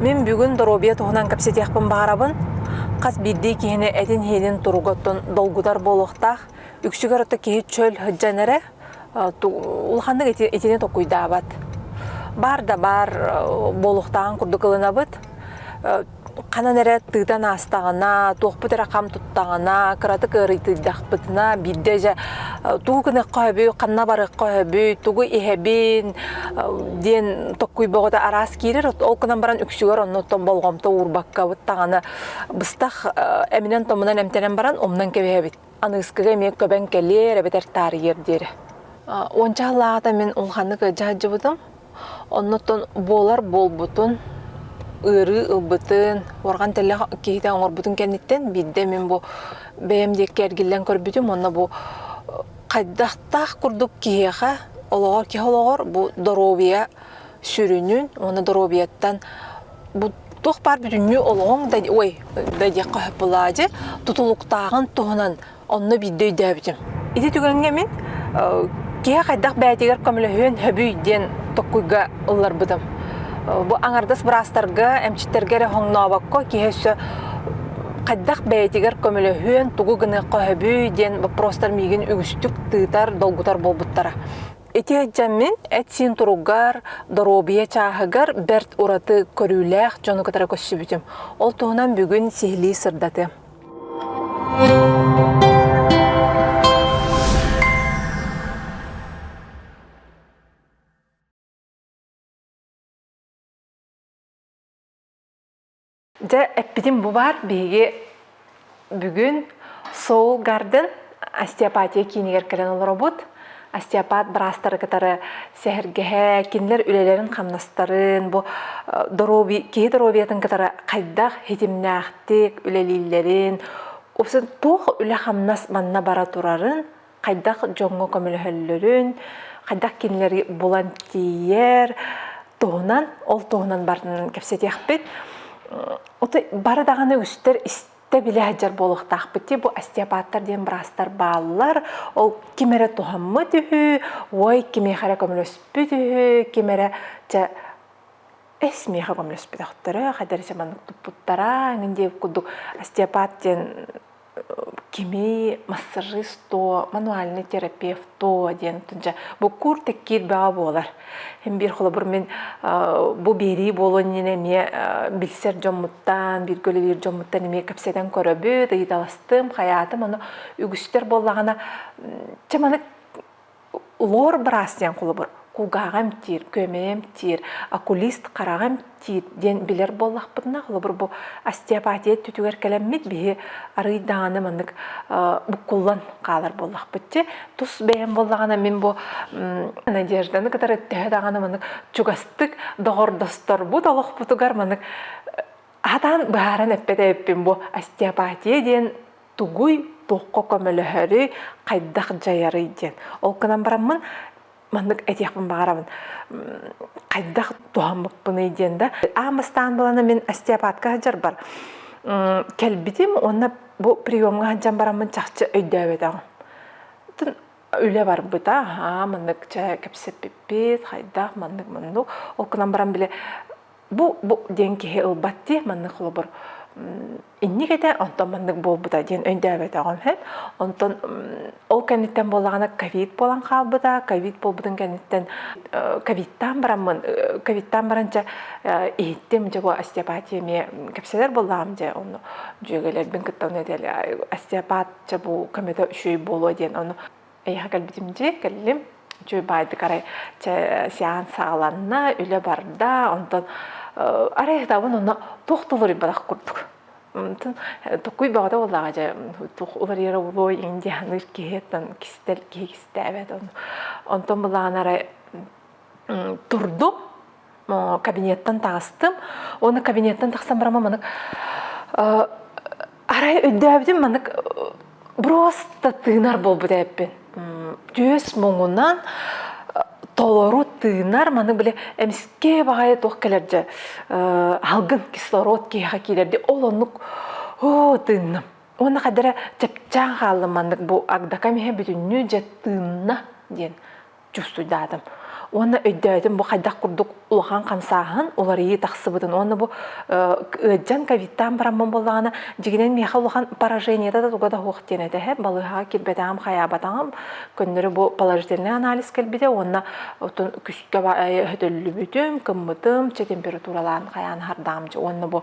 Мин бүгүн доруобуйа туһунан кэпсэтиэхпин баҕарабын. Хас биирдии киһини этин-иһинин туруга оттон долгутар буолуохтаах. Үксүгэр отто киһи чөл сылдьан эрэ улаханнык итини токуйдаабат. Баар да баар буолуохтааҕын курдук ылынабыт. ханан эрэ тыытан аастаҕына, туохпут эрэ хам туттаҕына, кыратык ыарыйтыйдахпытына, биирдэ дьэ тугу гыныахха сөбүй, ханна барыахха сөбүй, тугу иһэбин диэн токкуй бөҕөтө араас киирэр, ол гынан баран үксүгэр оннуттан болҕомто уурбаккабыт даҕаны быстах эминэн-томунан эмтэнэн баран умнан кэбиһэбит. Аныыскыга эмиэ көбөн кэлиэр эбэтэр таарыйыар диэри. Уонча сыллаата мин улаханнык дьаһайдьыбытым. Оннуттан буолар буолбутун, ыарыы ылбытын, уорган тэллэх киһитэ оҥорбутун кэнниттэн биирдэ мин бу бэйэм диэки эргиллэн көрбүтүм уонна бу хайдахтаах курдук киһиэхэ олоҕор киһи олоҕор бу доруобуйа сүрүнүн уонна доруобуйаттан туох баар бүтүннүү олоҕуҥ да ой да диэххэ сөп былаадьы тутулуктааҕын туһунан онно биирдэ өйдөөбүтүм ити түгэҥҥэ мин киһи хайдах бэйэтигэр көмөлөһүөн сөбүй диэн токкуйга ылларбытым бу аҥардас быраастарга эмчиттэргэ эрэ хоҥнообокко киһи өссө хайдах бэйэтигэр көмөлөһүөн тугу гыныахха сөбүй диэн боппуруостар миигин үгүстүк тыытар долгутар буолбуттара Ити ejjэммин эт-сиин туругар, доруобуйа чааһыгар бэрт ураты көрүүлээх дьону кытары көрсүбүтүм. Ол туһунан бүгүн сиһилии сырдатыам. Дьэ, эппитим бу баар. Биһиги бүгүн Soul Garden остеопатия киинигэр кэлэн олоробут. Остеопат быраастары кытары сэһэргэһэ, кинилэр үлэлэрин-хамнастарын, бу доруобуй, киһи доруобуйатын кытары хайдах хитимнээхтик үлэлииллэрин, туох үлэ-хамнас манна бара турарын хайдах дьоҥҥо көмөлөһөллөрүн, хайдах кинилэри булан тиийэр, туһунан, ол туһунан барытын кэпсэтиэхпит. Ото бары даҕаны үстэр истэ билэ сылдьар буолуохтаахпыт дии. Бу остеопаттар диэн быраастар бааллар. Ол ким эрэ туһаммыт үһү, ой, кимиэхэ эрэ көмөлөспүт үһү, ким эрэ чэ эс миэхэ көмөлөспөтөхтөрө, хайдары маннык туппуттара, эҥин диэн курдук остеопат диэн кими массажист то, мануальный терапевт то диэн тунжа буккуур теккиит баҕа буолар. Эн биир холобур мин бу биэрии буолуон иннинэ эмиэ билсэр дьоммуттан, бииргэ үлэлиир дьоммуттан эмиэ кэпсэтэн көрөбүт, ыйыталастым, хайаатым, ону үгүстэр буоллаҕына чэ манык лор быраас диэн холобур кулгааҕа эмтиир, күөмэйэ эмтиир, окулист хараҕа эмтиир диэн билэр буоллахпытына, холобур бу остеопатия өттүтүгэр кэлэммит биһи арыый даҕаны маннык буккуллан хаалар буоллахпыт дии. Тус бэйэм буоллаҕына мин бу Надежданы кытары төһө даҕаны маннык чугастык доҕордосторбут олохпутугар маннык аһатаан быһааран эппэт эбиппин бу остеопатия диэн тугуй, туохха көмөлөһөрүй, хайдах дьайарый диэн. Ол гынан бараммын маннык этиэхпин баҕарабын хайдах туһаммыппыный диэн да аан бастаан булана мин остеопатка сылдьарбар кэлбитим уонна бу приемҥа сылдьан бараммын чахчы өйдөөбөтөҕүм үлэ барбыта аа маннык чэ кэпсэппиппит хайдах маннык маннык ол гынан баран били бу бу диэн киһи ылбат дии маннык холобур инник этэ онтон маннык буолбута диэн өйдөөбөтөҕүм һэт онтон ол кэнниттэн буоллаҕына ковид буолан хаалбыта ковид буолбутун кэнниттэн ковидтаан бараммын ковидтаан баран дьэ иһиттим дьэ остеопатия эмиэ кэпсэнэр буоллаҕым дьэ ону дьүөгэлэрбин кытта ону диэли остеопат дьэ бу көмөтө үчүгэй буолуо диэн ону Эйэхэ кэлбитим дии, кэллим. Үчүгэй баайдыкарай сеанс саҕаланна, үлэ барда. Онтон арай ытабын онно туох толоруйбадах курдук. Антын токуй баҕата буоллаҕа дьэ туох уларыйарабылой индианыыр киһиэттэн кистэл киһи кистээбэт ону. Онтон былаан арай турдум кабинеттан таҕыстым уонна кабинеттан тахсан барама манык арай өйдөөбүтүм манык просто тыынар буолбут эбиппин түөс муҥунан толору тыынар маннык били эмискэ баҕайы туох кэлэрдэ аһылгын кислород киһиэхэ киирэрди ол оннук оо тыынным уонна хадара чэпчээн хааллым маннык бу агдакам иһэ бүтүннүү дьэ тыынна диэн чувствуйдаатым уонна өйдөөтүм бу хайдах курдук улахан хамсааһын уларыйыы тахсыбытын уонна бу ыалдьан ковидтаан бараммын буоллаҕына дьигинэн миэхэ улахан поражениета да туга да суох диэн этэһэ балыыһаҕа киирбэтэҕим хайаабатаҕым көннөрү бу положительный анализ кэлбитэ уонна отун күскэ өтөллүбүтүм кыммытым чи температуралаан хайаан хардаамчы уонна бу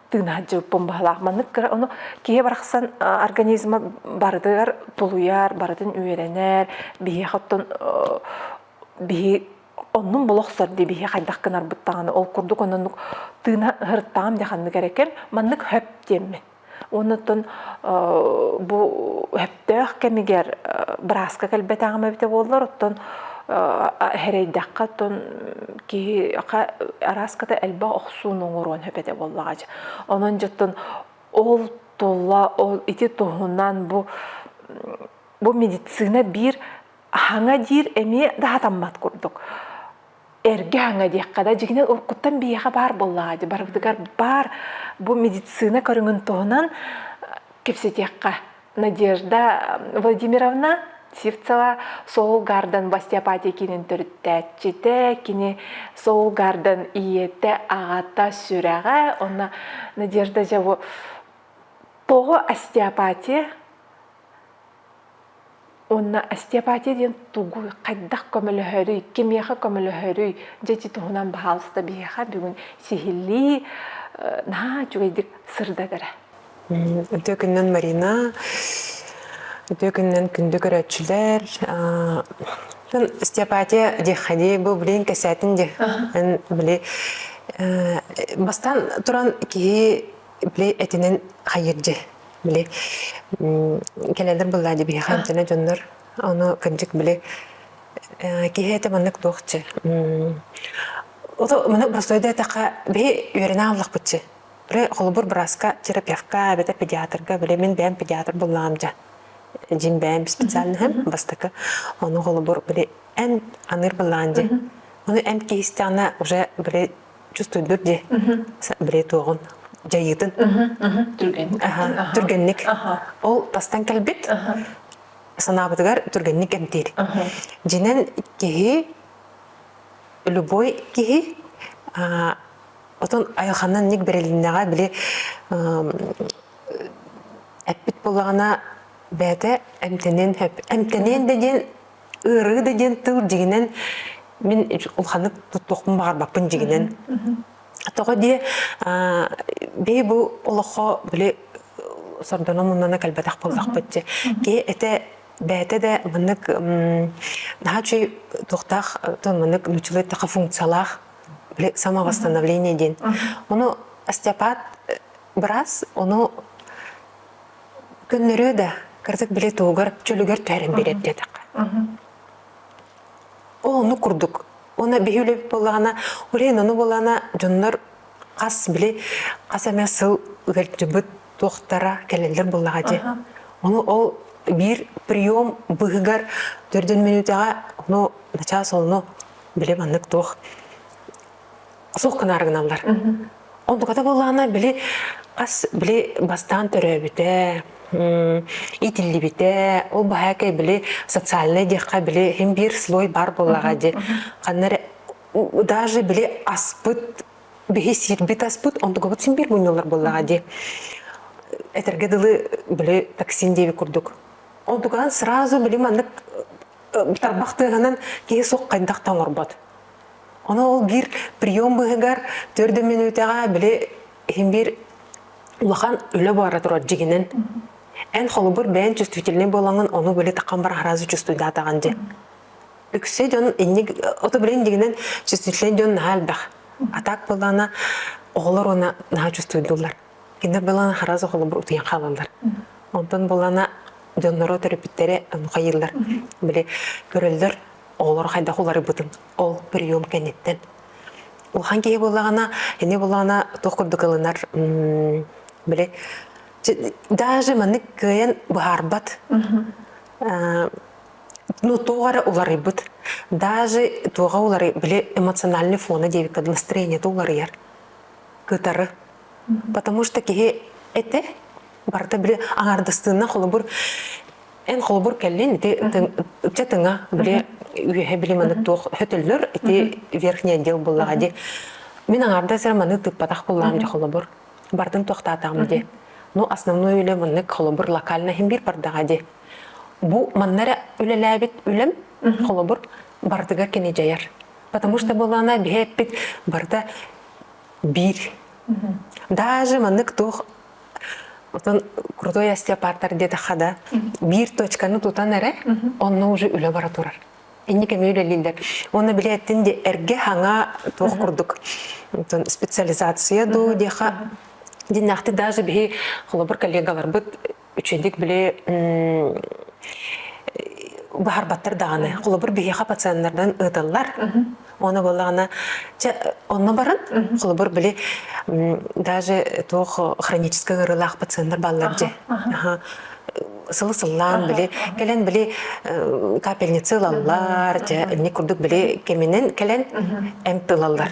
тыын сылдьыбыппын баһылаах. Маннык кыра ону киһи барахсан организма барытыгар тулуйар, барытын үөрэнэр, биһиэхэ оттон биһи оннун бұл охсор дей биһи хайдах кынарбыт таҕаны ол курдук оннук тыына хырыттаам деханны керекен маннык хөп диэммин оннуттан бу хөп төөх кэмигэр бырааска кэлбэтэҕим эбитэ буоллар оттон эрэйдэххэ оттон киһиэхэ арааската элбэх охсууну оҥоруон сөп этэ буоллаҕа дьэ онон дьоттон ол туолла ол ити туһунан бу бу медицина биир аһаҥа диир эмиэ даатаммат курдук эргэ аҥа диэххэ да дьиҥинэн уруккуттан биһиэхэ баар буоллаҕа дии барыбытыгар баар бу медицина көрүҥүн туһунан кэпсэтиэххэ Надежда Владимировна Сивцева Соул Гарден остеопатия киинин төрүттээччитэ, кини Соул Гарден ийэтэ, аҕата, сүрэҕэ, онно Надежда Жаво тоҕо остеопатия Уонна остеопатия диэн тугу, хайдах көмөлөһөрүй, кимиэхэ көмөлөһөрүй, дьэ ити туһунан баһаалыста биһиэхэ бүгүн сиһилии наһаа үчүгэйдик сырдатара. Үтүө күннэн Марина, үтүө күннэн күндү көрөөччүлэр. Остеопатия диэххэдий бу билигин кэсээтин диэ. Били бастаан туран киһи Били этинэн хайырдьы. Били кэлэнэр быллаадьы биһи хамтана дьоннор ону кынчык били киһи этэ маннык туохчы. Ото маны простой да этаха биһи үөрэнэ аллахпытчы. Бре холбур браска терапевтка, бете педиатрга, били мин бэйэм педиатр буллаам жа. Дин бэйэм специально хэм бастакы ону холбур били эн аныыр быллаан жи. Оны эм киһистиана уже били Чувствуйдур дии. Били туоҕун дьайыытын. Түргэнник. Ол тастан кэлбит санаабытыгар түргэнник эмтиир. Дьинэн киһи любой киһи отон айылханнан ник берелиннеҕа били эппит булаҕана бэйэтэ эмтэнин эмтэнин да диэн ыарыы да диэн тыл дьигинэн мин улханнык туттуохпун баҕарбаппын дьигинэн тоҕо дии бэйи бу олоххо били сордоно муннана кэлбэтэх буоллахпыт дьэ киһи этэ бэйэтэ да маннык наһаа үчүгэй туохтаах маннык нучулай таха функциялаах били самовосстановление диэн ону остеопат быраас ону Көннөрүө да, кырдык били туһугар чөлүгэр түһэрэн биэрэр диэтэххэ. Ол оннук курдук. Уонна биһи үлэбит буоллаҕына, урен ону буоллаҕына, дьоннор хас били хас эмэ сыл ыалдьыбыт туохтара кэлэллэр буоллаҕа дии. Ону ол биир прием быһыгар төрдүн мүнүүтэҕэ ону начаас онно били маннык туох суох гынаары гыналлар. Онтуката буоллаҕына били хас били бастаан төрөөбүтэ, итиллибитэ, ол баһаакай били социальнай диэххэ били хим биир слой бар буоллаҕа дии. Ханна эрэ даже били аспыт биһи сирбит аспыт онтугабыт син биир мунньуллар буоллаҕа дии. Этэргэ дылы били токсин диэби курдук. Онтукаан сразу били маннык тарбах тыаһынан киһи суох хайдах да оҥорбот. Оны ол гир прием быһыгар төрт мүнүүтэҕэ били иһин биир улахан үлэ баара турар дьигинен. Эн холобур бэйэн чувствительный буолаҥын ону били такан бар хараазы чувствуйдаатаҕан дьэ. Үксе дьон инник ото билен дигинен чувствительный дьон наһаа элбэх. А так буолаана оҕолор уна наһаа чувствуйдулар. Кинилэр былаана хараас оҕолобор утуйан хаалаллар. Онтон былаана дьонноро төрөппүттэрэ хайыыллар. Били көрөллөр оҕолору хайдах уларыйбытын ол прием кэнниттэн. Улахан киһи буллаҕына, ини буллаҕына туох курдук ылынар били даже маннык кыайан быһаарбат ну туох эрэ уларыйбыт даже туоҕа уларый били эмоциональный фона диэбиккэ настроениета уларыйар кытары. Потому что киһи эте барыта били аҥаардастыына холобур эн холобур кэллин ити ычча тыҥа били үөһэ били маны туох хөтөллөр ити верхний отдел буллаҕа ди мин аҥаардас эрэ маны тыыппатах буллаам дьэ холобур бардын туохтаатаҕым ди ну основной үлэ маннык холобур локально иһин биир бардаҕа ди бу манна эрэ үлэлээбит үлэм холобур барытыгар кини дьайар Потому что была она биһэ эппит барыта биир. Даже манны кто Отон крутой остеопатар деді хада биир точканы тутан эрэ онно уже үлэ бара турар. Инник эми үлелиллер. Оны билеттин де эрге хаңа тоқ курдук. Специализация ду деха диннахты даже бихи холобур коллегаларбыт Үчүгдик били быһарбаттар даҕаны. Холобур, биһиэхэ пациеннардан ыытыллар. Оны боллаҕына, чэ, онно баран, холобур, били даже туох хронический ыарыылаах пациенттар баллар дьэ. сылы сыллаан били кэлэн били капельницы ылаллар дьэ инник курдук били кэминен кэлэн эмп ылаллар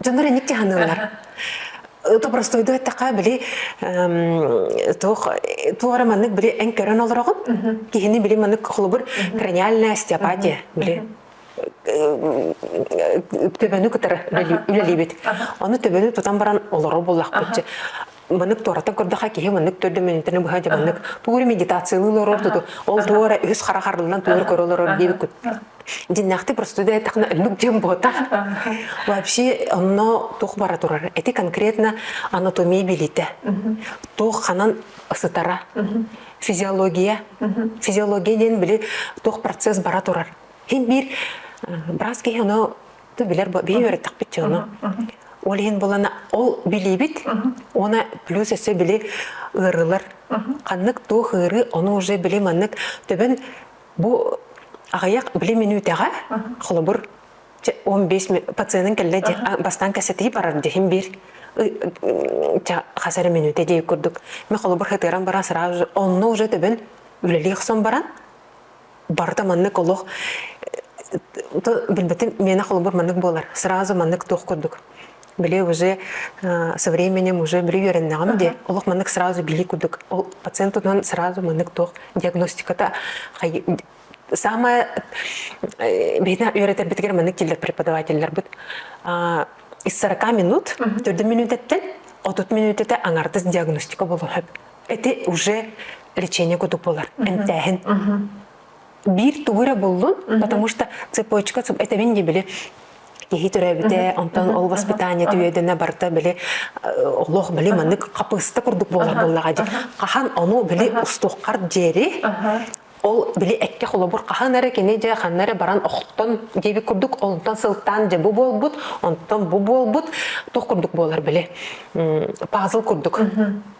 дьоннор инник дьаһаныыллар то простой да эттэхэ били туох туора маннык били эн көрөн олороҕун киһини били маннык холобур краниальная остеопатия били төбөнү кытары үлэлиибит ону төбөнү тутан баран олорор буллахпыт маннык туораттан көрдөхө киһи маннык төрдө мүнүтэнэ быһа дьэ маннык тууру медитациялыы олорор дуту ол туора үһүс хара харылынан туор көрө олорор диэбиккут диннэхти простуда этахна өллүк дьем бота вообще онно тух бара турар эти конкретно анатомия билите тух ханан сытара физиология физиология диэн били тух процесс бара турар хин биир брас киһи ону Ты билер бии үөрэттэхпит чыгыны. Ол иһин булана ол билибит, оны плюс өссө били ыарылар. Ханнык туох ыыры, оны уже били маннык төбөн бу аҕыйах били минутаға холобур 15 пациентын келле бастан кәсәтей барар дехим бир хасары минуте дей курдук. Мен холобур хытыран баран сразу онны уже төбөн үлелі ұқсан баран Барыта маннык олох билбэтим миэнэ холобур маннык буолар сразу маннык туох курдук били уже со временем уже били үөрэннэҕим диэ олох маннык сразу билии курдук ол пациент тутунан сразу маннык туох диагностиката самое биһиги үөрэтэрбитигэр маннык киллер преподавателлэрбит ис сорока минут төрдүн мүнүүтэттэн отут мүнүүтэтэ аҥардас диагностика болуһөп Ити уже лечение кутук болар эмтээһин. Биир тугу эрэ буллун, потому что цепочка этебин ди били киһи төрөөбүтэ, онтон ол воспитание түөдөнө барта били олох били маннык хапыста курдук болар боллаға ди. Хахан ону били устуққар жери ол били экке холобур хахан эрэ кини же ханна эрэ баран охтон диэбит курдук онтон сылтаан же бу буолбут онтон бу буолбут туох курдук буолар били пазл курдук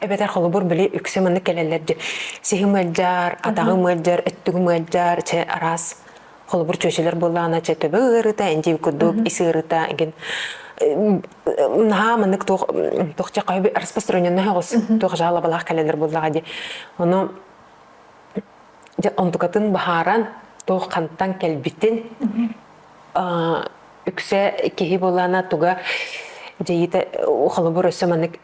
эбэтэр холобур били үксэ маннык кэлэллэр дьэ сиһим ыалдьар атаҕым ыалдьар өттүгүм ыалдьар чэ араас холобур чүөчүлэр буоллаҕына чэ төбө ыарыыта эндиви курдук ис ыарыыта эгин наһаа маннык туох туох чэ хайы распространенный оҕус туох жалобалаах кэлэлэр буоллаҕа ди ону онтукатын баһааран туох хантан кэлбитин үксэ киһи буоллаана туга дьэйита холобур өссө маннык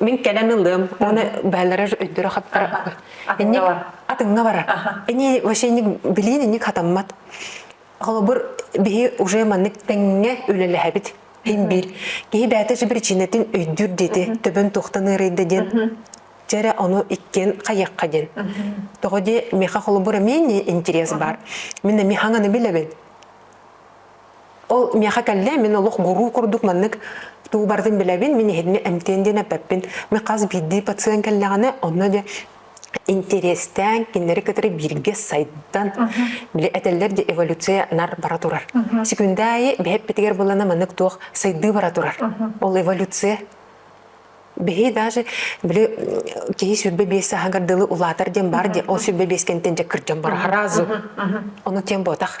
Мин кэлэн ылыам. Аны бээлэрэр өйдөрө хаттара. Инник атыҥҥа барар. Ини вообще инник билиин инник хатаммат. Холобур, биһи уже маннык тэҥҥэ үлэлэһэбит. Ин биир. Киһи бэйэтэ сөп причинэтин өйдүүр диэти төбөн туохтан ыарыйда диэн дьэрэ ону иккиэн хайыахха диэн. Тоҕо дии миэхэ холобур эмиэ интирес бар. Мин эмиэ хаҥаны билэбин. Ол миэхэ кэллэ, мин олох гуруу курдук маннык туу барытын билэбин, мин иһинни эмтиэн диэн эппэппин. Мен хас биирдии пациент кэллэҕинэ, онно дьэ интэриэстээн, кинилэри кытары бииргэ сайдан, били этэллэр дии, эволюция нар бара турар. Секундаи бэһэппитигэр булана маннык туох сайдыы бара турар. Ол эволюция биһи даже били киһи сүрбэ биэс сааһыгар дылы улаатар диэн баар диэн ол сүрбэ биэс кэнтэн дьэккырдьон бара разу ону тиэн буотах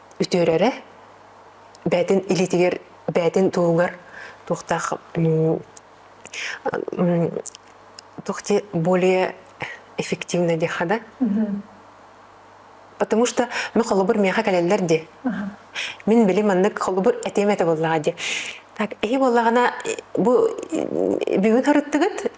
үтүөрэрэ бээтин илиитигэр бээтин туһугар туохтаах туох те более эффективно деха да потому что мы холобур меха кэлэллэр ди мин били маннык холобур этем этэ боллаға ди так эһи боллаҕына бу бүгүн харыттыгыт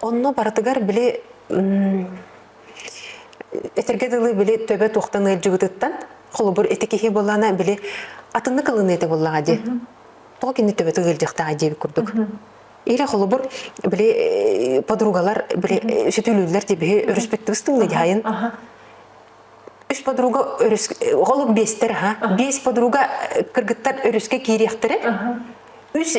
Онно барытыгар били этэргэ дылы били төбө туохтан ыалдьыбытыттан холобур ити киһи буоллаана били атыннык ылыныыта буоллаҕа дии тоҕо кини төбөтө ыалдьыахтааҕа диэбит курдук ире холобур били э, подругалар били э, сүтүлүүллэр дии биһи өрүспүттүбүс тылны дьаайын үс подруга өрүс э, холук биэстэр аха биэс подруга кыргыттар өрүскэ киириэхтэрэ үс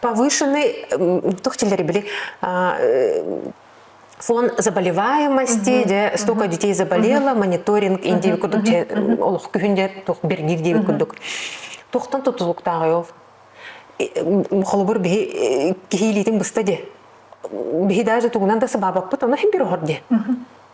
повышенный, туох тиллэри били, фон заболеваемости, де столько детей заболело, мониторинг индиэби курдук олох күһүн де туох бергиир диэби курдук. Тухтан тутулуктааҕы ол. Холобур биһи киһилиитин быста де биһи даже тугунан да сыбаабаппыт, ону хин бир охор де.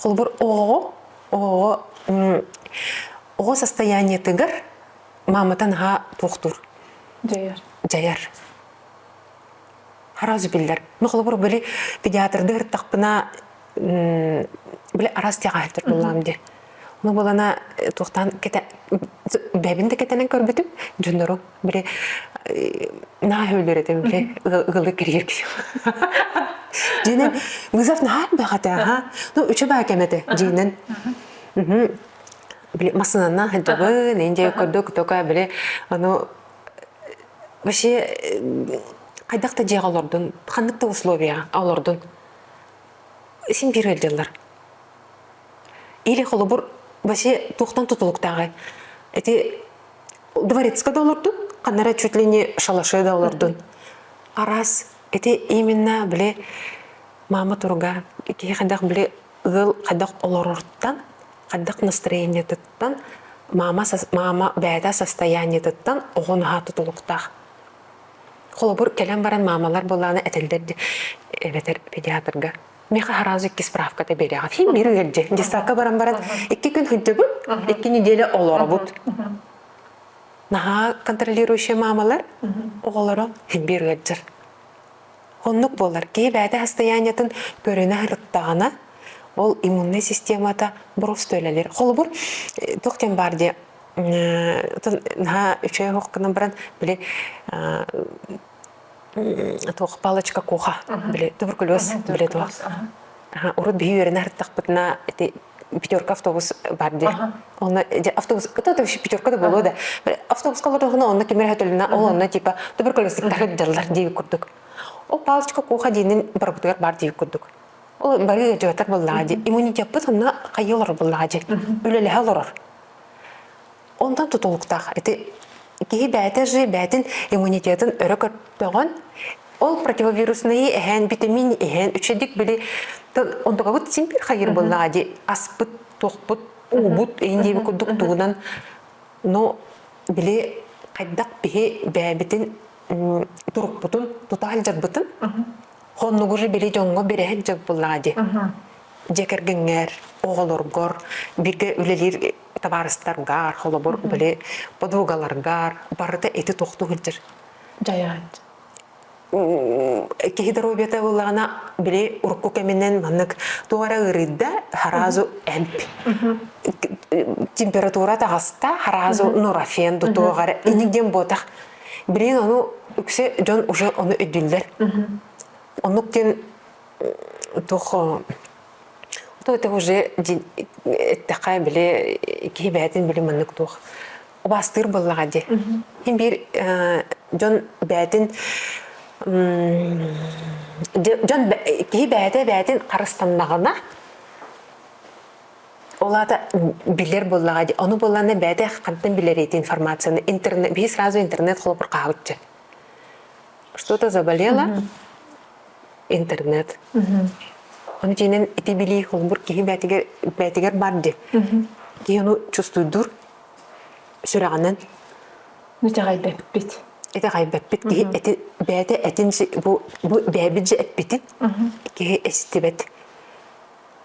Холобур, оҕоҕо, оҕоҕо оҕо состояниетыгар маамата наһаа туохтуур дьайар дьайар араас билэр ну холобур били педиатрды ырыттахпына били араас тягаһыттар буллаам ди ну булана туохтаан кэте бэбин да кэтэнэн көрбүтүм дьоннору Били наһаа өлөр этим били ыалы кириер киһи. Динен Гызов наһаа бэхэтэ аха. Ну үчү баа кэмете динен. Били масынана хадыбын инде көрдө күтөкө били anu вообще хайдах да дьиэҕэ олордун ханнык да условия олордун син бир өлдөллөр или холобур вообще тухтан тутулуктааҕы эти дворецка да олордун ханнара чуть ли не шалаше да олордун арас эти именно били мама туруга киһи хайдах били ыал хайдах олорортан хайдах настроениетыттан мама мама бэйэтэ состояниетыттан оҕо наһаа тутулуктаах холобур кэлэн баран маамалар буолааны этэлдэр эбэтэр педиатрга меха араас икки справка тэбиэриэҕэ фильм биир үйэрдьэ дьыссаакка баран баран икки күн сылдьабыт икки неделя олоробут наһаа контролирующие маамалар оҕолоро фильм биир үйэрдьэр оннук буолар киһи бэйэтэ состояниетын көрүнэ ырыттаҕына ол иммунный системата бросто үлэлэр холобур э, туох диэн баар диye наһаа үчүгэй хоқ гынан баран били туох палочка куха били туберкулез били туох урут биһи үөрэнэ һыртахпытына ити пятерка автобус бар дии онно автобус это вообще пятерка да было да автобуска олордохуна онно ким эрэ өтөлүнэ ол онно типа туберкулезниктар ыддаллар дии курдук ол палочка куха диинин барбытыгар бар дии курдук ол бары дьыгатар буллаа ди иммунитетпыт онно хайы олор буллаа ди үлэлэһэ олорор Онтон тутулуктаах. Ити киһи бэйэтэ же бэйэтин иммунитетын өрө көппөҕөн, ол противовируснайы эһээн, витамин эһээн, үчэдик били онтукабыт симпир хайыр быллаҕа ди аспыт, туохпут, уубут ин диэби курдук туунан, но били хайдах биһи бэйэбитин турукпутун тута алдьарбытын хоннугу же били дьонго береһен жыл быллаҕа ди дьэ кэргингэр оҕолоргор бигэ үлэлиир табаарыстаргар, холобур, били подругаларгар барыта эти тохту сылдьар. Дьайаат. Киһи доруобията ыллаҕына били урукку кэминэн маннык туох эрэ ыарыйда харазу эмп температура таҕаста харазу нурофен дутуоҕар инигден буотах билин ону үксе дьон уже ону өйдүллэр оннук дин Тух то это уже эттэхэ били киһи бээтин били маннык туох убастыыр боллаға ди. Хин бир дьон бээтин дьон киһи бээтэ бээтин харыстаннаҕына олата билер боллаға ди. Ону болланы бээтэ хантан билер эти информацияны интернет бии сразу интернет холопур каалыччы. Что-то заболело, интернет. Ону дьиэнэн ити билии холбур киһи бээтигэр, бээтигэр бар ди. Киһи ону чувствуйдур сүрэҕинэн. Итэҕэйбэппит. Итэҕэйбэппит киһи эти бээтэ этин бу бу бээбит же эппитин киһи эстибэт.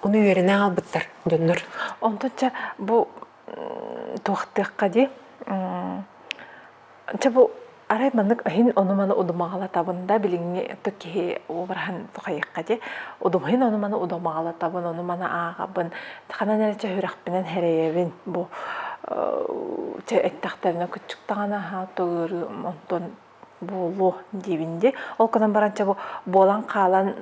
Ону үөрэнэ аалбыттар доннор. Онтучча бу туохтыахха ди чэ бу арай маннык аһин ону-маны удумаҕалатабын да билиҥҥи ытык киһи обраһын тухайыхха ди удумаһин ону-маны удумаҕалатабын ону-маны ааҕабын ханан эрэ чэ үрэхпинэн хэрэйэбин бу чэ эттэхтэринэ куччуктаҕына аһаа төгүрү онтон буолуо диибин дии ол гынан баран чэ бу буолан хаалан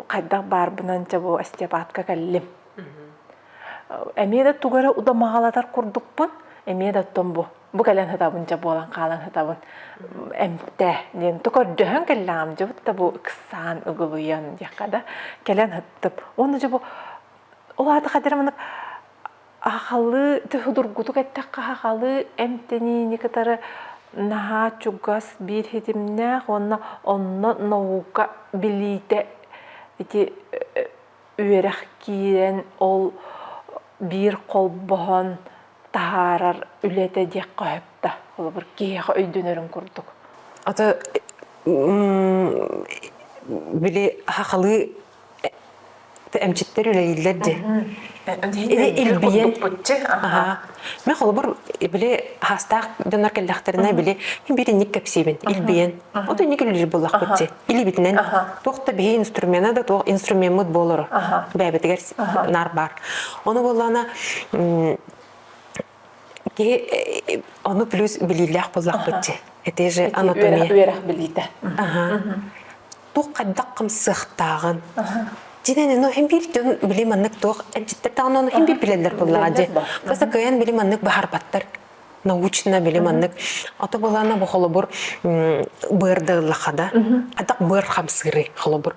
хайдах баарбынан чэ бу остеопатка кэллим эмиэ да тугу эрэ удамаҕалатар курдукпун эмиэ да оттон бу бу кэлэн сытабын чэ буолан хаалан сытабын эмтэ диэн то көрдөһөн кэллэҕим дьыбыт да бу ыксаан ыгылыйан диэххэ да кэлэн сыттым уонна дьэ бу ол аата хадьара маннык Ахалыы судургутук эттэххэ, ахалыы эмтэниини кытары наһаа чугас биир ситимнээх уонна онно наука билиитэ ити үөрэх киирэн ол биир холбоһон таһаарар үлэтэ диэххэ сөпкө. Холобур, киһиэхэ өйдөнөрүн курдук. Ата били ахалыы эмчиттэр үлэлииллэр дии. Илбийэн. Мен холобур били хаастаах дьоннор кэллэхтэринэ били бир инник кэпсиибин илбийэн. От инник үлэлир буллахпыт дии. Илибитинен туох да биһи инструмена да туох инструмеммыт болору. Бэбитигер нар бар. Оны боллана Киһи ону плюс билиилээх буоллахпыт дьи. Эти же анатомия. Үөрэх билиитэ. Аха. Тух хайдах хамсыахтааҕын. Динен ну хим бир дьон били маннык туох энчиттертаҕын ону хим бир билэллэр буллаҕа дьи. Каса кыйан били маннык баһарбаттар научно били маннык ото былана бу холобур быарда ыллаха да адак быар хамсыры холобур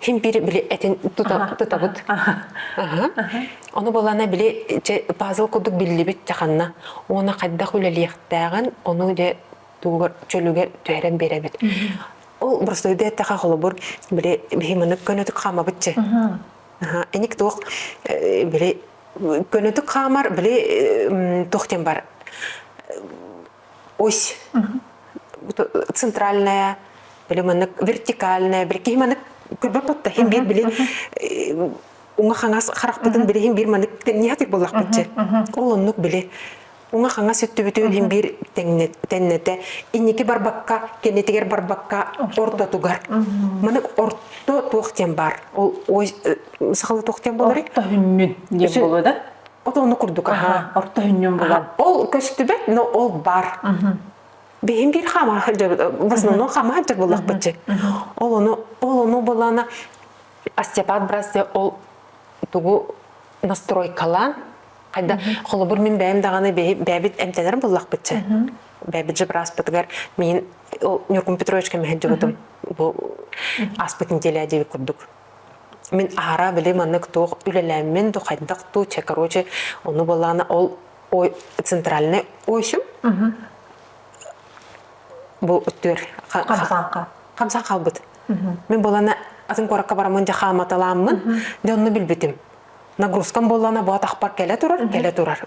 син биир били этин тутабыт. Ону булана били пазл курдук биллибит чаханна. Уона хайдах үлэлиэхтээҕин, ону де тугугар чөлүгэр түһэрэн биэрэбит. Ол бросойда таха холобур били бihимынык көнөтүк хаамабытчы. Эник туох били көнөтүк хаамар били туох тем бар ось центральная, или маннык вертикальная, били киһи маннык күлбэппэттэ хин биир билин уҥа хаҥас харахпытын били хин биир маннык тенниатик боллахпыт же ол оннук били уҥа хаҥас өттүбүтүн хин биир теннете инники барбакка кеннетигер барбакка ортотугар маннык орто туох тем бар ол ой сахалы туох тем болары орто хүннүн диэн болу да Ото ону курдук аһа, орто хүннүм булан. Ол көстүбэт, но ол бар. Биһим биир хама в основном хама ханчак буллахпытчы. Ол ону ол ону булана остеопат брассе ол тугу настройкалаан хайда холобур мин бэйэм даҕаны бэйэбит эмтэнэрим буллахпытчы бэйэбит жебраспытыгар мин Ньуркун Петровичка мөһөддьүбүтүм бу аспыт неделя диэбит курдук Мин аһара били маннык туох үлэлээммин ду хайдах ту че короче ону балаана ол ой центральный ойшум бу өттүр хамсаанка хамсаан хаалбыт мен балана атын куоракка барамын жахааматалааммын де онну билбитим нагрузкам боллана бу атахпар келе турар келе турар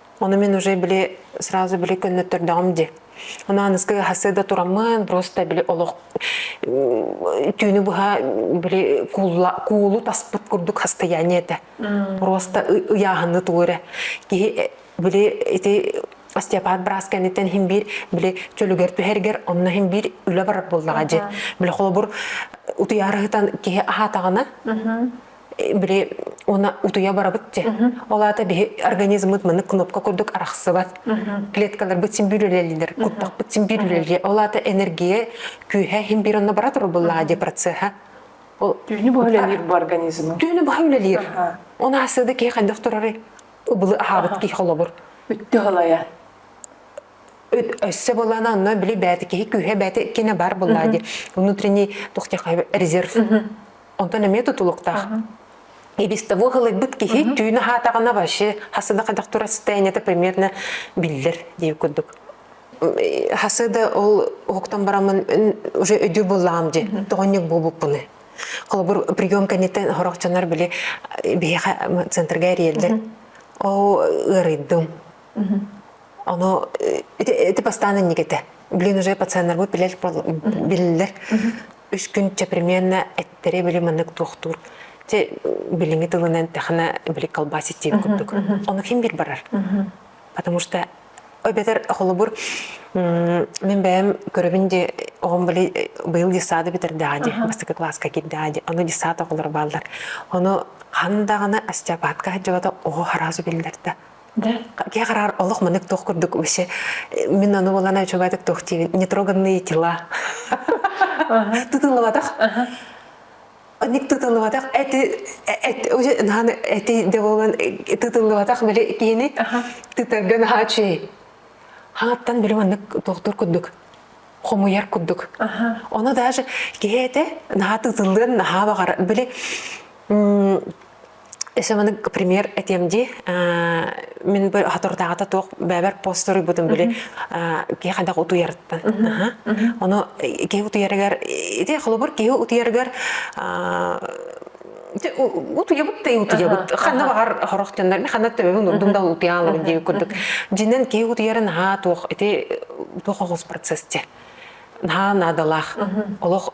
Оны мен уже били сразу били көннөттөрдөҕүм ди. Онон аныскы хасыда тураммын просто били олох түүнү быһа били куулу таспыт курдук хастаяние этэ. Просто ыяхыны туурэ. Киһи били ити остеопат брас кэнниттэн хин биир били чөлүгэр түһэргер онно хин биир үлэ барар буоллаҕа дьи. Били холобур утуярыһытан киһи аһатаҕына били уна утуя барабыт те ол аата биһи организммыт маны кнопка курдук арахсыбат клеткаларбыт син бүрүлэлилер куттахпыт син бүрүлэле ол аата энергия күүһэ хин бир онно бара туруллуллаа де процесса түүнү бу үлэлиир бу организмы түүнү баха үлэлиир он асыды ки хандах турары убылы аһабыт ки холобур үттү халая өссө былаана онно били бэйэтэ киһи күһэ бэйэтэ иккине бар буллаа ди внутренний тухтяха резерв онтон эмиэ тутулуктаах и без того халайбыт киһи түүнү хаатаҕына вообще хасыда хайдах турар состояниета приметно биллер дии курдук хасыда ол уһуктан барамын уже өдүр буллаам ди тоҕонньук буолбуппуны холобур прием кэнниттэн хорохчанар били биһиэхэ центрга эрийэллэр ол ыарыйдым Ону ити, ити бастаан иннигитэ. Блин, уже пациеннарбыт билер, билилер. Үс күн чеприменна эттэри били маннык туохтуур. Те билиҥи тылынан тэхана били колбаси тиеп курдук. Ону ким бир барар. Потому что өбетер холобур мен бэйэм көрөбүн де оҕом били быйыл десады битердааҕа ди бастакы класска кирдааҕа ди аны десата оҕолор бааллар. Ону хандаҕына остеопатка хадьылата оҕо харазу биллэрдэ. Да, я гараар олох манык туох курдук вообще мин ону булана чугатык туох диибин нетроганные тела тутулубатах оник тутулубатах эти эти уже нахан эти деволан тутулубатах били киини тутарга наха чүй хаңаттан били маннык доктор курдук хомуйар курдук ону даже киһи эти наха тутуллан наха багар били Эсэманык пример этиэм дии. Мин бу хатордааҕыта туох бэбэр постор буутум били киһи хайдах утуйарыттан. Ону киһи утуйарыгар ити холобур киһи утуйарыгар утуябыт та утуябыт ханна баҕар хорох төннөр мен ханна төбөбүн урдум да утуялым дии курдук жинен киһи утуярын haa туох ити туох оҕус процесс те наһаа наадалаах олох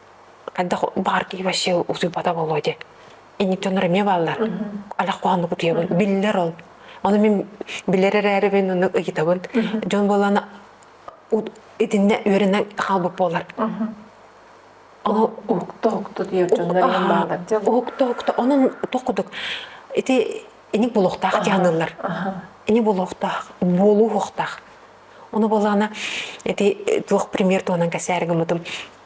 хайдах баҕар киһи вообще утуйбата буолуо дии инниттэнэр эмиэ бааллар алах куһаннык утуйабын биллэр ол ону мин билэр эрээрибин ону ыйытабын дьон буоллана итиннэ үөрэнэ хаалбыт буолар ону укта укта диир дьоннор баалар укта укта онон тоқудук ити иник булуохтаах кианыыллар ини булуохтаах буолуу хуохтаах ону буоллана ити туох пример туонан касаарыгымытым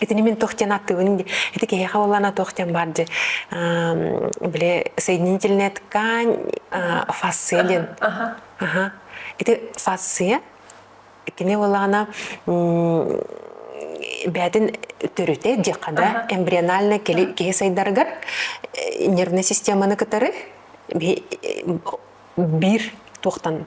Итини мин туох диэн аттыбын ити киһиэхэ боллана туох диэн бар же били соединительная ткань фасция диэн. Аха. Ити фасция кини боллана бээтин төрүтэ диэххэ да эмбриональнай киһи сайдаргар нервная системаны кытары биир туохтан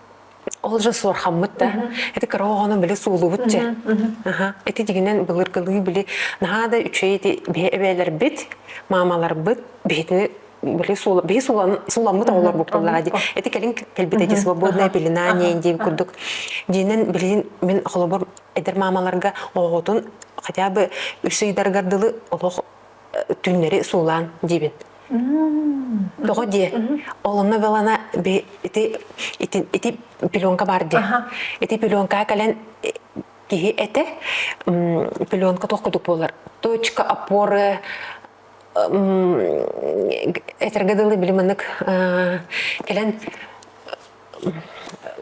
Ол же суорхаммыт да. Ити кыра оҕону били суулуубут чэ. Аха. Ити дигинэн былыргылыы били наһаа да үчүгэй ити биһи эбээлэрбит, маамаларбыт биһитини били суула биһи суулан сууламмыт оҕолор буккуллаҕа дии. Ити кэлин кэлбитэ дии свободная пелена диэн диэн курдук. Диинэн билигин мин холобур эдэр маамаларга оҕоҕутун хотя бы үс ыйдаргар дылы олох түүннэри суулаан диибин. Тоҕо дии? Олунна велана би ити ити ити пеленка баар дии. Ити пеленка кэлэн киһи этэ пеленка туох кудук буолар. Точка опоры этерге дылы билиманнык кэлэн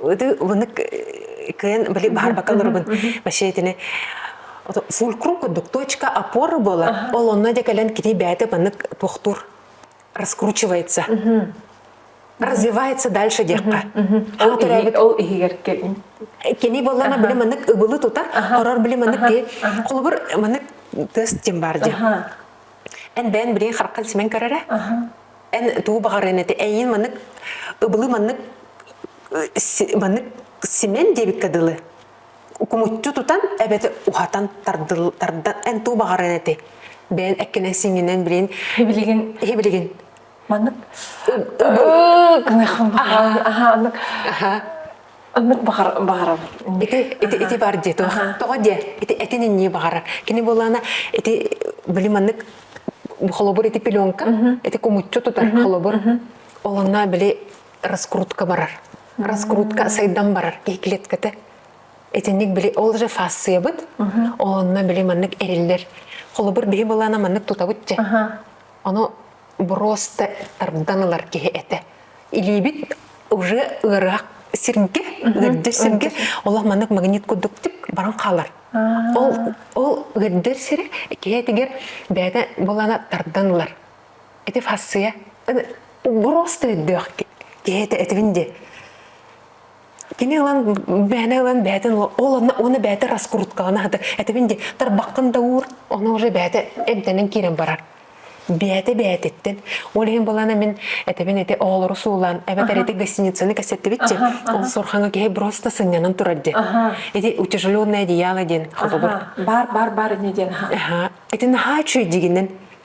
ылынык кыйын били баарбакка олоробун вообще итини фулкрум курдук точка опоры буолар ол онно де кэлэн кини бэйэтэ маннык пухтур раскручивается развивается дальше диэххэ ол төрөөбүт ол иһигэр кэлин кини боллана били маннык ыбылы тутар орор били маннык ти холобур маннык тыас тим бар ди Эн бэйэн билиҥ хараххын симэн көрөрө. Эн тугу баҕарыан этэ эйин маннык ыбылы маннык маннык симэн диэбиккэ дылы кумуччу тутан эбэтэ уһатан тардыл тардан эн туу баҕаран эти бэйэн эккинэн сиҥинэн билин билигин билигин маннык ыныахын аха аха Оннук баҕар баҕарабын. Ити ити ити бар дии тоҕо тоҕо диэ ити этин иннии баҕарар. Кини буолаана ити били маннык холобур ити пеленка ити кумуччу тутар холобур олонна били раскрутка барар. Раскрутка сайдан барар киһи клетката итинник били ол же фасциябыт олонна били маннык эриллэр холобур биһи буолаана маннык тутабыт же ону броста тардан ылар киһи этэ. Илиибит уже ыараах сиргэ, ыырдыр сиргэ, олох маннык магнит курдук тик баран хаалар. Ол ол ыырдыр сирэ киһитигэр бэйэтэ булана тардан ылар. Эти фассия броста үрдөөх киһитэ этибин де Кини ылан бээнэ ылан бээтин ол онно уонна бээтэ раскруткаҕын аһата этибин ди тарбаххын да уур ону уже бээтэ эмтэнэн киирэн барар бээтэ бээтиттэн ол иһин былаана мин этэбин ити оҕолору суулаан эбэтэр ити гостиницаны кэссэттибитчи ол сурхаҥы киһи просто сынньанан турар ди ити утяжеленное одеяло диэн холобур бар бар бар ини диэн ити наһаа үчүөйдигинен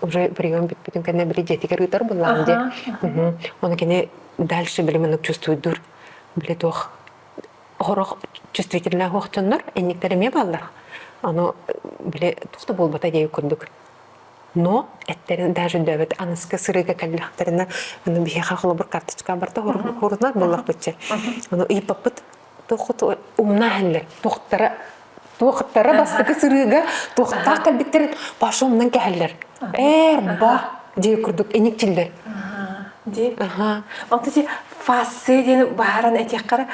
уже прием бүппүтүн кэннэ били дьиэтигэр ыытар быллаан дии. Оны кини дальше били маннык чувствуйдур били туох хорох чувствительных охчоннор энниктер эмиэ бааллар аны били тухта буолбата дей курдук но эттерин даже дөбөт аныска сырыыга кэллэхтэринэ аны биһиэхэ холобур карточка барта хорунат буллахпытча аны ыйпаппыт туохха умна иһэллэр туохтара туохтара бастакы сырыыга туохтаах кэлбиттэрин паша умнан кэһэллэр эр ба дии курдук иникчиллэр ди онтон ти фассе диэн бааран этиэххэ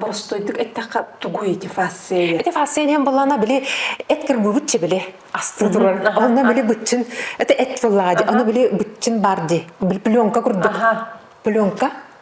боростойдук эттэххэ тугуй ити фассе эти фассе диэн былана били эткер быгыччы били асты турар онно били быччын это эт фыллаади ону били быччын бар ди пленка курдук пленка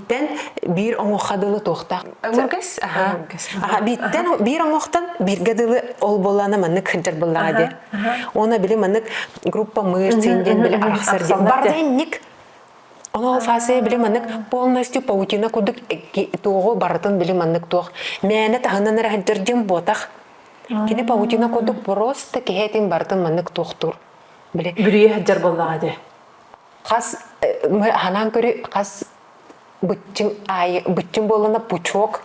бииттэн биир оҥуохха дылы туохтаах өҥүргэс аха аха бииттэн биир оҥуохтан бииргэ дылы ол буоллаана маннык кырдьар быллаҕа диэ оны били маннык группа мыыр син диэн били арахсар диэн барда инник Оноо фасе биле маннык полностью паутина курдук туоҕу барытын били маннык туох мээнэ таһынан эрэ хаддырдым буотах кини паутина курдук просто киһэтин барытын маннык туохтуур биле бүрүйэ хаддыр боллаҕа де Хас мы ханаан көрү хас быччым аайы быччым буолана пучок.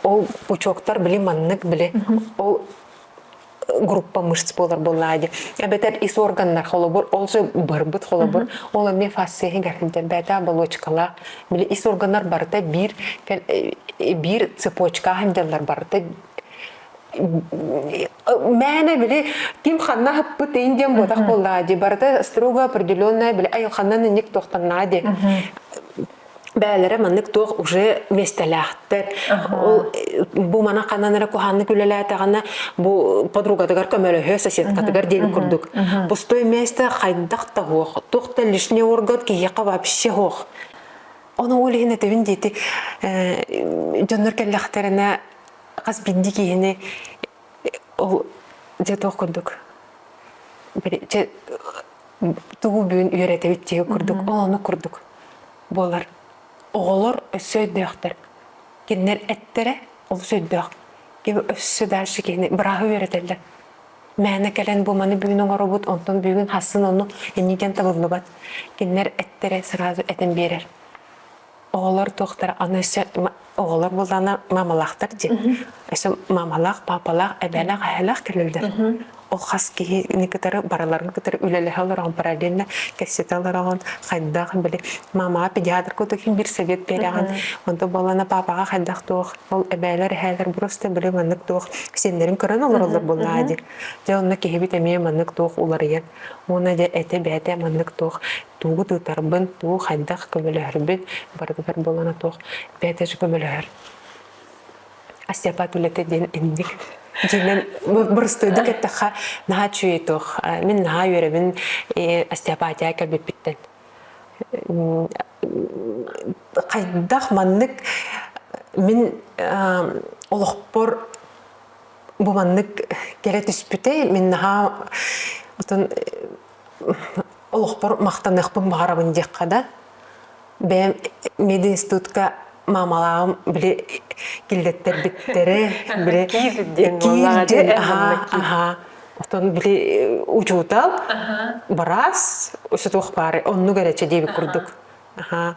Ол пучоктар били маннык били ол группа мышц буолар буоллаа ди. Эбэтэр ис органнар холобур ол же барбыт холобур ол эмиэ фасция гэрдэрбээтэ болочкалаах били ис органнар барыта биир биир цепочка хандаллар барыта Мээнэ били ким ханна хаппыт ин диэн буотах буллаа ди барыта строго определенная били ай ханнан инник тохтаннаа ди бээлэрэ маннык туох уже местелээхтер ол бу мана ханнанара куханнык үлэлээтэҕинэ бу подругатыгар көмөлөһө соседкатыгар диэн курдук пустой месте хайдах таһуох тух та лишний орган киһиэхэ вообще ох оны ол иһин этибин диити дьоннор кэллэхтэринэ хас биринди киһини ол дьэ туох курдук дьэ тугу бүгүн үөрэтэбит диэх курдук ол ону курдук буолар оҕолор өссө өйдөөхтөр кинилэр эттэрэ олус өйдөөх киһи өссө дальше киһини бырааһы үөрэтэллэр мээнэ кэлэн бу маны бүгүн оҥоробут онтон бүгүн хассын ону иннигэн табыллыбат кинилэр эттэрэ сразу этэн биэрэр оҕолор туохтара аны өссө оҕолор буоллаҕына мамалаахтар дии өссө мамалаах папалаах эбэлээх эһэлээх кэлэллэр ол хас киһини кытары барыларын кытары үлэлэһэ олороҕун параллельно кэссэтэ олороҕун хайдах били мамаҕа педиатр кутуkin бир совет береҕин онто боллана папаҕа хайдах туох ол эбээлэр эһээлэр просто били маннык туох сеннерин көрөн олороллор буллаа ди дьэ онно киһибит эмиэ маннык туох уларыйан уона дьэ эте бэте маннык туох Тугу да ытарбын, уу хайдах көмөлөһөрбүн барытыгар буолана туох бэйэтэ көмөлөһөр. Остеопат үлэтэ диэн инник дьиэнэн боростуойдук эттэххэ наһаа үчүгэй туох мин наһаа үөрэбин остеопатия кэлбиппиттэн хайдах маннык мин олохпор бу маннык кэлэ түспүтэй мин наһаа отон олохпор махтаныахпын баҕарабын диэххэ да бэйэм мединститутка маамалаабым били киллэттэрбиттэрэ били киирдин аhaa аhaa оттон били учуутал быраас усутуох баары оннук эрэ диэбит курдук аhaa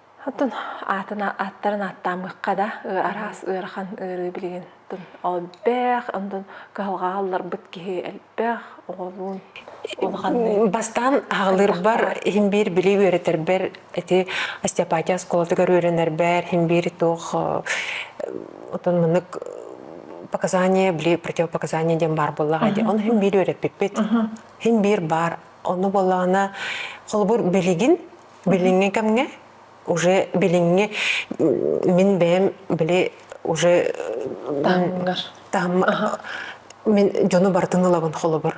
Отун аатына ааттарын ааттаамыхха да араас ыарахан ыарыы билигин тун элбэх ондон кыһалҕаҕа алларбыт киһи элбэх оҕолуун улаханнык бастаан аҕалырбар иһин биир били үөрэтэрбэр эти остеопатия оскуолатыгар үөрэнэрбэр иһин биир туох отон мыннык показания били противопоказание диэн баар буоллаҕа ди ону иһин биир үөрэппиппит иһин биир баар ону боллаҕына холобур билигин Билиҥҥи кэмҥэ уже билиҥҥи мин бэйэм били уже таһымҥар таһым мин дьону барытын ылабын холобур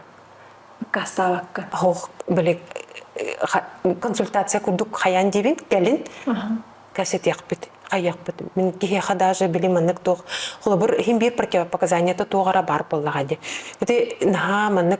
кассаабакка оһох били консультация курдук хайаан диибин кэлин кэсэтиэхпит айыахпыт мин киһиэхэ даже били маннык туох холобур иһин биир противопоказаниета туох баар буоллаҕа ди ити наһаа маннык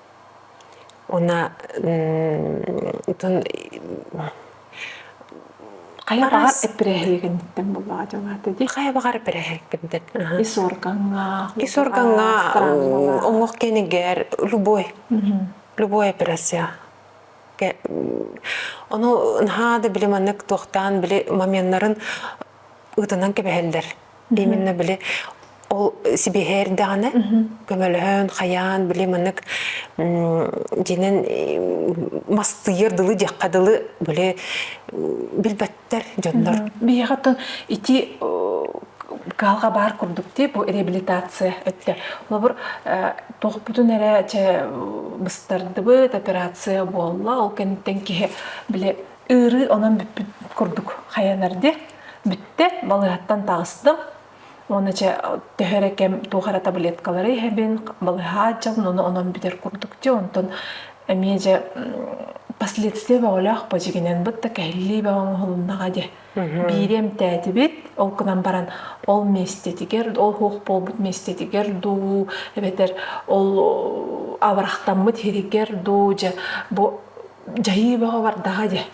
Уна хайа баҕар эппирэһиэгиниттэн буллаҕа дьоҥаата дии. Хайа баҕар эппирэһиэгкиттэн. Ис оргоҥҥа. Ис оргоҥҥа омук кэнигэр любой. Любой операция. Ону наһаа да били маннык туохтаан били моменнарын ытынан кэбиһэллэр. Именно били ол сибиһээрдэҕинэ көмөлөһөн, хайаан били маннык динэн мастыйар дылы дьахха дылы били билбэттэр дьоннор. Биһиэхэ тыл ити каалга баар курдук ти бу реабилитация өттө. Олобур тоқпутун эрэ че быстардыбыт операция буолла ол кэнниттэн киһи били Ыарыы онон бүппүт курдук хайанар дии. Бүттэ, балыһаттан таҕыстым. Уонна чэ төһө эрэ кэм туох эрэ таблеткалары иһэбин, балыһаа дьалын ону онон бүтэр курдук дии. Онтон эмиэ дьэ последствия бөҕөлөөх бу дьигинэн быт да кэһиллии бөҕө оҥоһулуннаҕа дии. Биири эмтээтибит, ол гынан баран ол миэстэтигэр, ол суох буолбут миэстэтигэр дуу, эбэтэр ол абырахтаммыт иһигэр дуу дьэ бу дьайыы бөҕө бардаҕа дии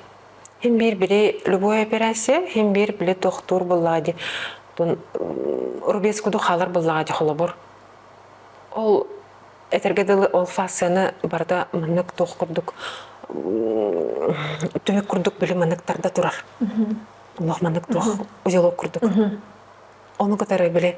хин биир били любой операция хин биир били тохтуур буллаҕа дии тун рубец куду хаалар буллаҕа дии холобур ол этэргэ дылы ол фасцияны барыта маннык туох курдук түһүк курдук били маннык тарда турар олох маннык туох узелок курдук ону кытары били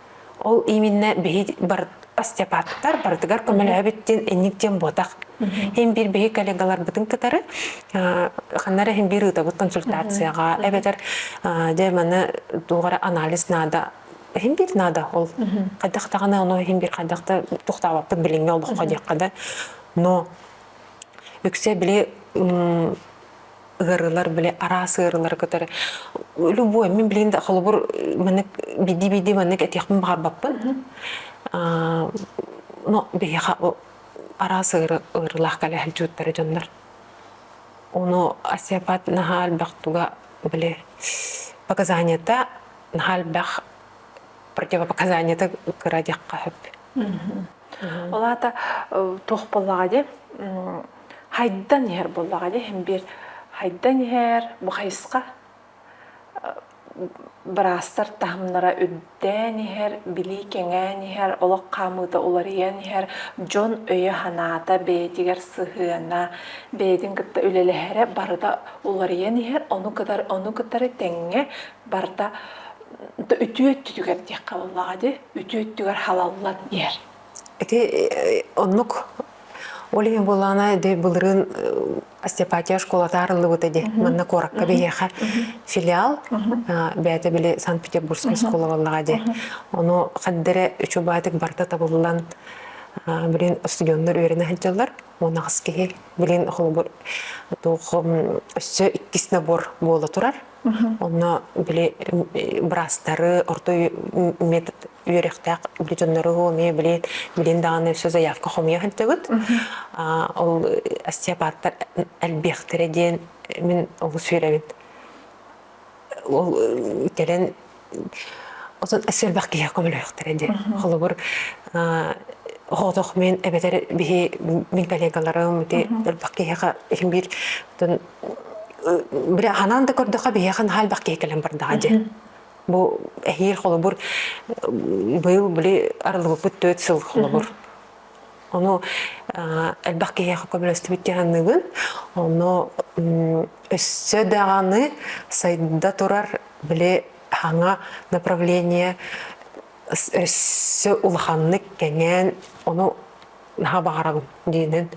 Ол именно биһи бар Астепаттар барытыгар көмөлөһөбүт диэн инник диэн буотах. Һин бир биһи коллегаларбытын кытары ханнара һин бир ытабыт консультацияга эбэтэр дьэ маны тугара анализ наада һин бир наада ол хайдахтагана ону һин бир хайдахта тухтаабаппыт билиҥҥи олоххо диэххэ да но үксе били ыарыылар били араас ыарыылары кытары любой мин билин да холобур маннык биди-биди маннык этиэхпин баҕарбаппын но биһиэхэ араас ыары ыарыылаах кэлэ сылдьыбыттара дьоннор ону осеопат наһаа элбэх туга били показанията наһаа элбэх противопоказанията кыра диэххэ сөп ол аата туох буоллаҕа дии Хайдан иһэр буоллаҕа ди иһин биир хайдан иһэр бу хайысха быраастар таһымнара үрдээн иһэр, билии кэҥээн иһэр, олох хаамыыта уларыйан иһэр, дьон өйө-санаата бэйэтигэр сыһыана, бэйэтин кытта үлэлэһэрэ барыта уларыйан иһэр, ону кытары ону кытары тэҥҥэ барыта үтүө өттүтүгэр диэххэ буоллаҕа дии, үтүө өттүгэр халаллан иһэр. Ити оннук ол иһин буолаана ди былырын Остепатия школата арыллыбыта ди манна куоракка биһиэхэ филиал бэйэтэ били Санкт-Петербургскай оскуола боллаҕа ди ону хаддэрэ үчүбаатык барыта табыллан билин студеннар үөрэнэ сылдьаллар уон аҕыс киһи билин холобур өссө иккис набор буола турар Онно били браастары, орто үммет үөрөхтээх били дьоннору эмиэ били билин даҕаны все заявка хомуйа сылдьыбыт. Ол остеопаттар элбиэхтэрэ диэн мин олус үөрэбин. Ол кэлэн Оттон сэрбэх киһи көмөлөөхтөрө дии. Холобур, хоотох мен эбэтэр биһи мин коллегаларым ити элбэх киһиэхэ иһин биир били ханаан да көрдөхө биһиэхэ наһаа элбэх киһи кэлэн бардаҕа дии. Бу эһиил холобур быйыл били арылыбыппыт төрт сыл холобур. Ону элбэх киһиэхэ көмөлөстүбүт киһаныгын. Ону өссө даҕаны сайда турар били хаҥа направление өссө улаханнык кэҥээн ону наһаа баҕарабын диинэн.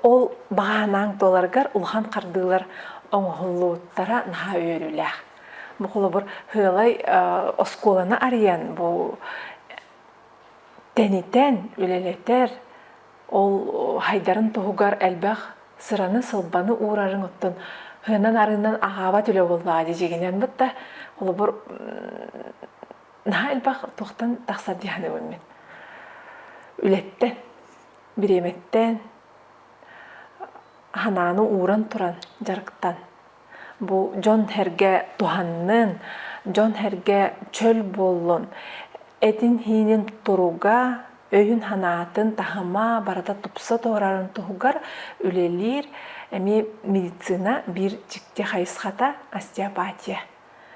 Ол баһаанааҥ туоларгар улахан хардыылар оҥоһуллууттара наһаа үөрүүлээх. Бу холобур, Һыалай оскуоланы арыйан бу тэнитэн, үлэлэтэр, ол хайдарын туһугар элбэх сыраны-сылбаны уурарын оттон хыынан-арыынан аһаабат үлэ буоллаҕа дьидьигинэн бытта холобур наһаа элбэх туохтан тахсар дии саныыбын мин үлэттэн бириэмэттэн санааны ууран туран дьарыктан Бу дьон-сэргэ туһаннын, дьон-сэргэ чөл буоллун, этин-иинин туруга, өйүн-санаатын таһыма барыта тупса туорарын туһугар үлэлиир эмиэ медицина биир дьикти хайысхата – остеопатия.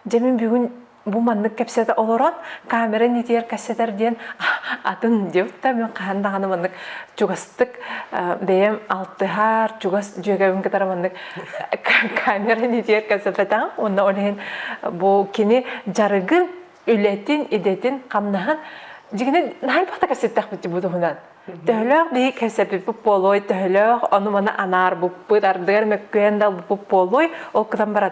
Дьэ, мин бүгүн Бу маннык кэпсэтэ олорон камера нитигэр кэссэтэр диэн атын диэбит да мен хаһан даҕаны маннык чугастык бэйэм алтыһар чугас дьүөгэбин кытары маннык камера нитигэр кэсэпэтэҕим онно ол иһин бу кини дьарыгын үлэтин идэтин хамнаһын дьигини наһаа бохта кэсэттэхпит бу туһунан төһөлөөх бии кэсэпиппит буолуой төһөлөөх ону мана анаарбыппыт ардыгар мөккүһэн далбыппыт буолуой ол кытан баран